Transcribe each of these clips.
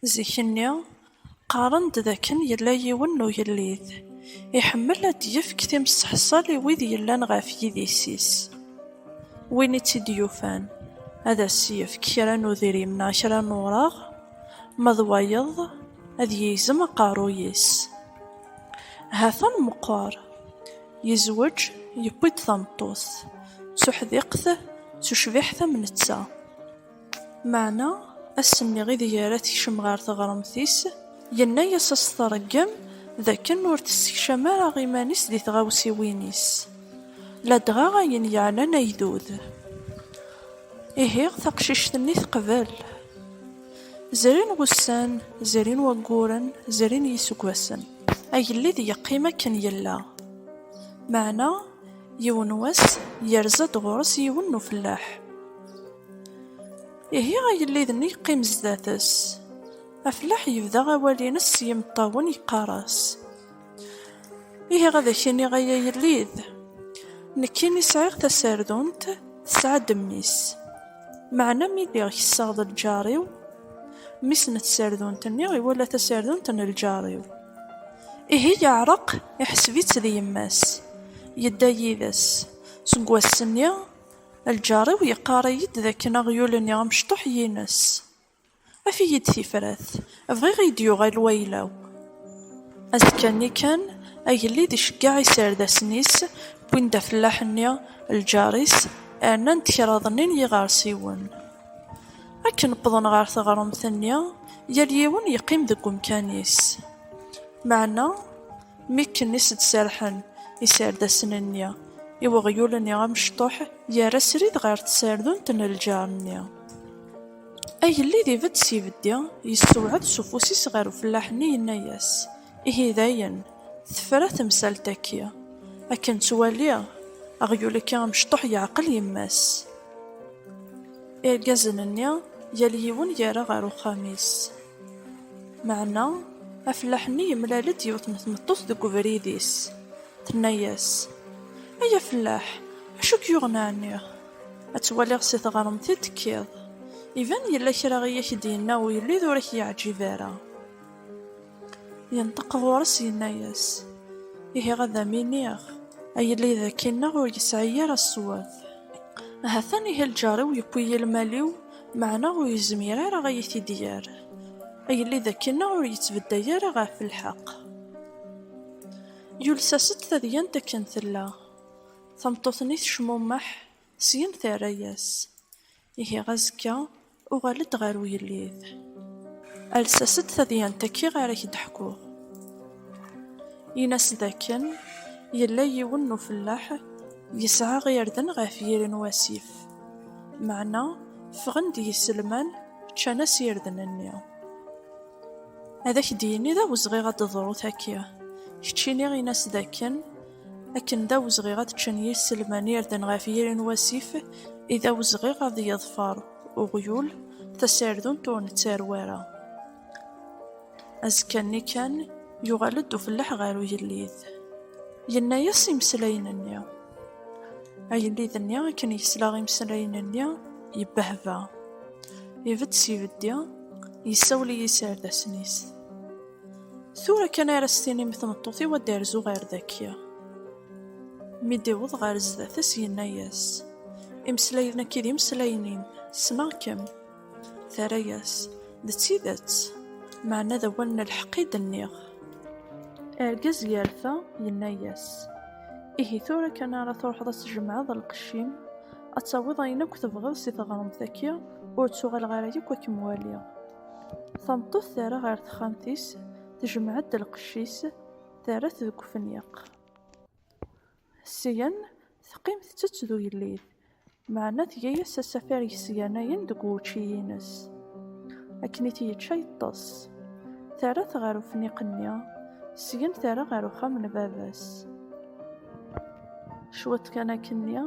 Zik-nni, qqaren-d d akken yella yiwen n ugellid iḥemmel ad d-yefk timseḥṣal i wid yellan ɣef yidis-is. Win i tt-id-yufan, ad as-yefk kra n udrim neɣ kra n ureɣ, ma d wayeḍ, ad yegzem aqerruy-is. Hatan meqqer, yezweǧ, yewwi-d tameṭṭut, d tuḥdiqt, d tucbiḥt am netta. Meɛna ass-nni ideg ara tekcem ɣer teɣremt-is, yenna-as ad as-tṛeggem d akken ur tessekcam ara iman-is di tɣawsiwin-is, ladɣa ayen yeɛnan agdud. Ihi, taqcict-nni teqbel. Zrin wussan, zrin wagguren, zrin yiseggasen, agellid yeqqim akken yella. Meɛna, yiwen wass, yerza-d ɣur-s yiwen n ufellaḥ. Ihi agellid-nni yeqqim zdat-s. Aflaḥ yebda awal-ines s yimeṭṭawen yeqqar-as, Ihi ad ak-iniɣ ay agellid, nekkini sɛiɣ tasardunt tesɛa-d mmi-s, meɛna mi lliɣ kesseɣ d lǧar-iw, mmi-s n tsardunt-nni iwala tasardunt n lǧar-iw. Ihi yeɛreq, iḥseb-itt d yemma-s, yedda yid-s. Seg wass-nni. Lǧar-iw yeqqar-iyi-d d akken aɣyul-nni amecṭuḥ yines. Af-iyi-d tifrat, bɣiɣ ad yi-d-yuɣal wayla-w. Azekka-nni kan, agellid iceggeɛ iserdasen-is, wwin-d afellaḥ-nni, lǧar-is, rnan-d kraḍ-nni n yiɣersiwen. Akken wwḍen ɣer teɣremt-nni, yal yiwen yeqqim deg umkan-is. Meɛna. Mi akken i s-d-serrḥen iserdasen-nni i weɣyul-nni amecṭuḥ, yerra srid ɣer tserdunt n lǧar-nni. Agellid ibedd s ibeddi, yessewɛed s ufus-is ɣer ufellaḥ-nni yenna-yas, Ihi dayen, tefra temsalt-agi. Akken ttwaliɣ, aɣyul-agi amecṭuḥ yeɛqel yemma-s. Irgazen-nni, yal yiwen yerra ɣer uxxam-is. Meɛna afellaḥ-nni yemlal-d yiwet n tmeṭṭut deg ubrid-is, tenna-yas, Ay afellaḥ, acu k-yuɣen ɛni? Ad twaliɣ si tɣremt i d-tekkiḍ. Iban yella kra i ak-d-yenna ugellid ur ak-yeɛǧib ara. Yenṭeq ɣur-s yenna-yas, Ihi ad am-iniɣ, agellid akkinneɣ ur yesɛi ara ṣṣwab. Hatan ihi lǧar-iw yewwi-yi lmal-iw, Meɛna ur yezmir ara ad yi-t-id-yerr. Agellid akkenna ur yettbedday ara ɣef lḥeqq. Yules-as-d tadyant akken tella. Tameṭṭut-nni tecmummeḥ, syen terra-yas, Ihi azekka uɣal-d ɣer ugellid. Ales-as-d tadyant-agi ara k-d-ḥkuɣ. Ini-as dakken yella yiwen n ufellaḥ yesɛa irden ɣef yiri n wasif. Meɛna ffɣen-d yiselman, ččan-as irden-nni. Ad ak-d-yini d awezɣi ad d-teḍru taki. Keččini in-as d akken, akken d awezɣi ad ččen yiselman irden ɣef yiri n wasif, i d awezɣi ad yeḍfer uɣyul tasardunt ur nettarew ara. Azekka-nni kan, yuɣal-d ufellaḥ ɣer ugellid. Yenna-yas imeslayen-nni. Agellid-nni akken yesla imeslayen-nni, yebbehba. Ibedd s ibeddi, yessawel i yiserdasen-is. Tura kan ara s-tinim i tmeṭṭut-iw ad d-terzu ɣer daki. Mi d-iweḍ ɣer zdat-s, yenna-yas, Imeslayen-agi d imeslayen-im, ssneɣ-kem. Terra-yas, D tidet, meɛna d awal n lḥeqq i d-nniɣ. Argaz yerfa, yenna-yas, Ihi tura kan ara truḥeḍ ad tjemɛeḍ lqecc-im, ad tawiḍ ayen akk tebɣiḍ si teɣremt-agi, ur ttuɣaleɣ ara yakk ad kem-waliɣ. Tameṭṭut terra ɣer texxamt-is, tejmeɛ-d lqecc-is, terra-t deg ufenyeq. Syen, teqqim tettett d ugellid, meɛna tga-as asafar yesganayen deg wučči-ines. Akken i t-yečča yeṭṭes. Terra-t ɣer ufniq-nni, syen terra ɣer uxxam n baba-s. Cwiṭ kan akkenni,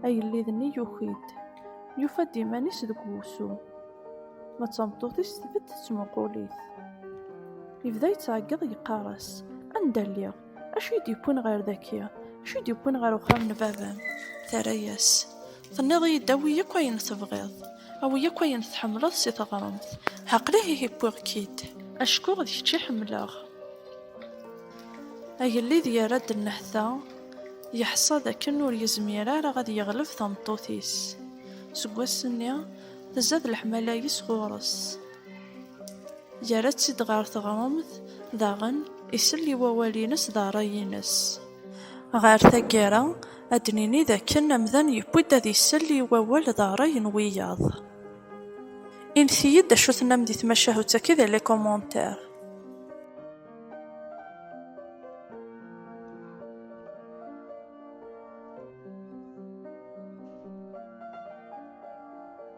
agellid-nni yuki-d, yufa-d iman-is deg wusu. Ma d tameṭṭut-is tbedd tettmuqul-it. Yebda yettɛeggiḍ yeqqar-as, Anda lliɣ? Acu i d-yewwin ɣer daki? Acu i d-yewwin ɣer uxxam n baba-m? Terra-yas. Tenniḍ-iyi-d awi akk ayen tebɣiḍ. Awi akk ayen tḥemmleḍ si teɣremt. Aql-i ihi wwiɣ-k-id. Acku d kečč i ḥemmleɣ. Agellid yerra-d nnehta, yeḥṣa d akken ur yezmir ara ad yeɣleb tameṭṭut-is. Seg wass-nni, tezza-d leḥmala-is ɣur-s. Yerra-tt-id ɣer teɣremt, daɣen isell i wawal-ines d rray-ines. Ɣer taggara, ad d-nini d akken amdan yewwi-d ad isell i wawal d rray n wiyaḍ. Init-iyi-d acu tennam di tmacahut-agi di les commentaires.